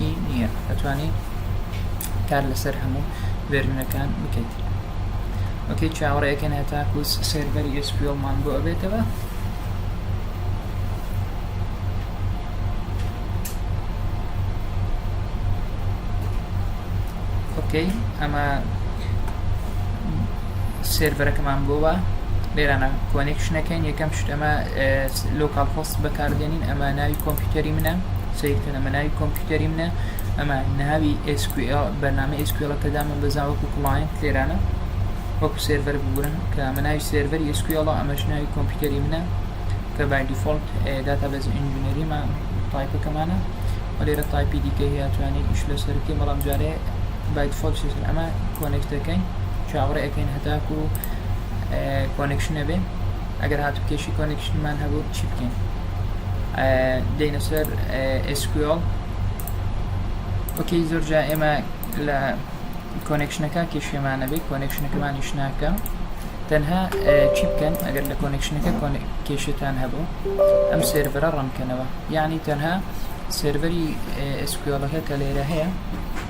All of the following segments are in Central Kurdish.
ی نییە ئەتوانی کار لەسەر هەموو ڤێرژنەکان بکەیت ئۆکەی چاوەڕێکەن هەتاکو سێرڤەری ئسپیۆمان بۆ ئەبێتەوە ئۆکەی ئەمە سێرڤەرەکەمان بۆوە لێرانە کۆنێکشنەکەین یەکەم شتەمە لۆکال خۆست بەکاردێنین ئەمە ناوی کۆمپیوتەری منە سیر ئەمە ناوی کۆمپیوتەری منە ئەمە ناوی SQL بەرنامە SQL کە دامن بەزان وەکو کڵایەنت لێرانە وەکو سێرڤەر بگورن کە ئەمە ناوی سێرڤەری SQL ئەمەش ناوی کۆمپیوتەری منە کە بای دیفۆلت داتا بەز ئینجینەریمان تایپەکەمانە و لێرە تایپی دیکە هیاتوانێت ئیش لەسەر بکەین بەڵام جارێ بای دیفۆلت سێسن ئەمە کۆنێکتەکەین چاوەڕێ ئەەکەین هەتاکو کۆنێکشنە بێ ئەگەر هاتو کێشی کۆنێکشنمان هەبوو چی بکەین دەینە سەر SQL وەکەی زۆر جا ئێمە لە کۆنێکشنەکە کێشێمانە بێ کۆنێکشنەکەمانیش ناکە تەنها چی بکەن ئەگەر لە کۆنێکشنەکە کێشێتان هەبوو ئەم سێرڤەرە ڕەنکەنەوە یعنی تەنها سێرڤەری SQLەکە کە لێرە هەیە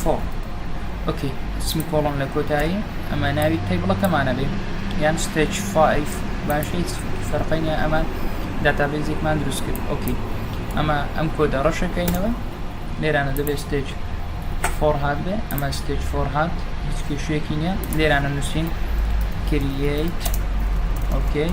for ئۆکەی سمی کۆڵم لە کۆتایی ئەمە ناوی تەیبڵەکەمانە بێ یان ستێچ فایف باش هیچ فەرقی نیە ئەمە داتابێزێکمان دروست کرد ئۆکی ئەمە ئەم کۆدە ڕەشەکەینەوە لێرانە دەبێت ستێچ فۆر هات بێ ئەمە ستێچ فۆر هات هیچ کێشەیەکی نیە لێرانە نووسین کریت ئۆکەی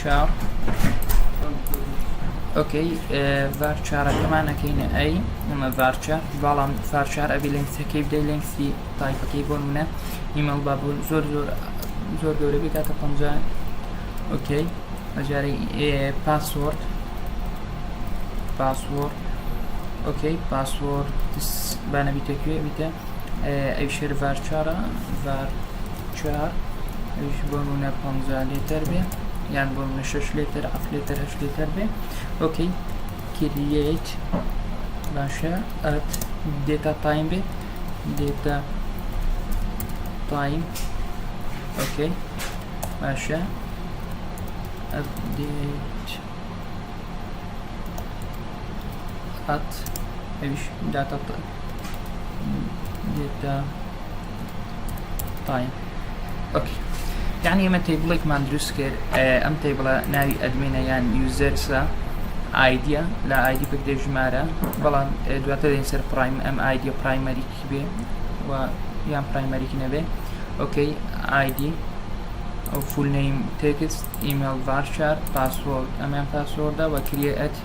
چار ئۆکەی ڤار چارەکەمان ئەەکەینە ئەی ئەمە ڤارچە بەڵام فارچار ئەبی لەنگسەکەی بدەی لەنگسی تایپەکەی بۆ منە نیمەڵ با بوون زۆر زۆر زۆر گەورە بێت تاکە پ ئۆکەی ئەجارەی پاسۆرد پاسۆرد ئۆکەی پاسۆرد بانەبیتەکوێ بیتە ئەی شێر ڤارچارە ڤار چوار ئەویش بۆ نمونە پەنجا لیتر بێ یان بۆ نمونە شەش لیتر حەفت لیتر هەشت لیتر بێ ئۆکەی کریەیت باشە ئەت دێتا تایم بێ دێتا تایم ئۆکەی باشە ئەپدێت ئەت ئەویش داتا دێتە تایم ئۆکی یعنی ئمە تیبڵێکمان دروست کرد ئەم تیبڵە ناوی ئەدمینە یان یوزەرسە ئایدە لە ئایدی بکدێ ژمارە بەڵام دواتە دێن سەر پرایم ئەم ئایدە پرایمەریکی بێ و یان پرایمەریکی نەبێ ئۆکەی ئایدی ئەو فولنەیم تێکست ئیمێل بارشار پاسۆرد ئەمیان پاسۆردە وە کریە ئەت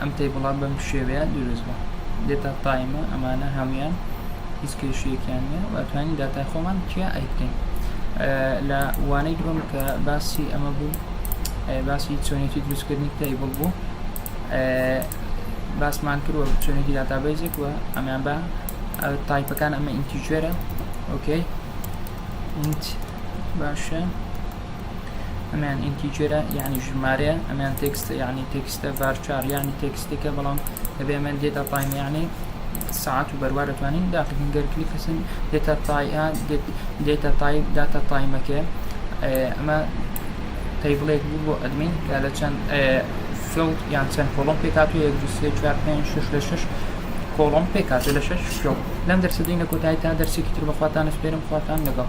ئەم تەیبڵە بەم شێوەیە دروست بوو دێتا تایمە ئەمانە هەموان هیچ کێشیەکیان نیە واتوانین داتای خۆمان کیا ئەیکەین لە وانەی دوم کە باسی ئەمە بوو باسی چۆنێتی دروستکردنی تەیبڵ بوو باسمان کردوە چۆنێتی داتابەیزێک وە ئەمیان بە تایپەکان ئەمە ئینتیژێرە ئۆکەی باشە ئەمیان ئینتیجرە یعنی ژمارەیە ئەمیان تێکستە یعنی تێکستە ڤارچار یعنی تێکستێکە بەڵام دەبێ ئەمەن دێتا تایم یعنی ساعت و بەروار دەتوانین داخین گەر کلیکەسن دێتا تایان دێتا تایم داتا تایمەکە ئەمە تەیبڵێک بوو بۆ ئەدمین کە لە چەند فڵ یان چەند کۆڵم پێکات و یەک دو سێ چوار پێنج شش لە شش کۆڵم پێکات لە شش فڵ لەم دەرسدەینە کۆتایی تا دەرسێکی تر بەخواتان سپێرم خواتان لەگەڵ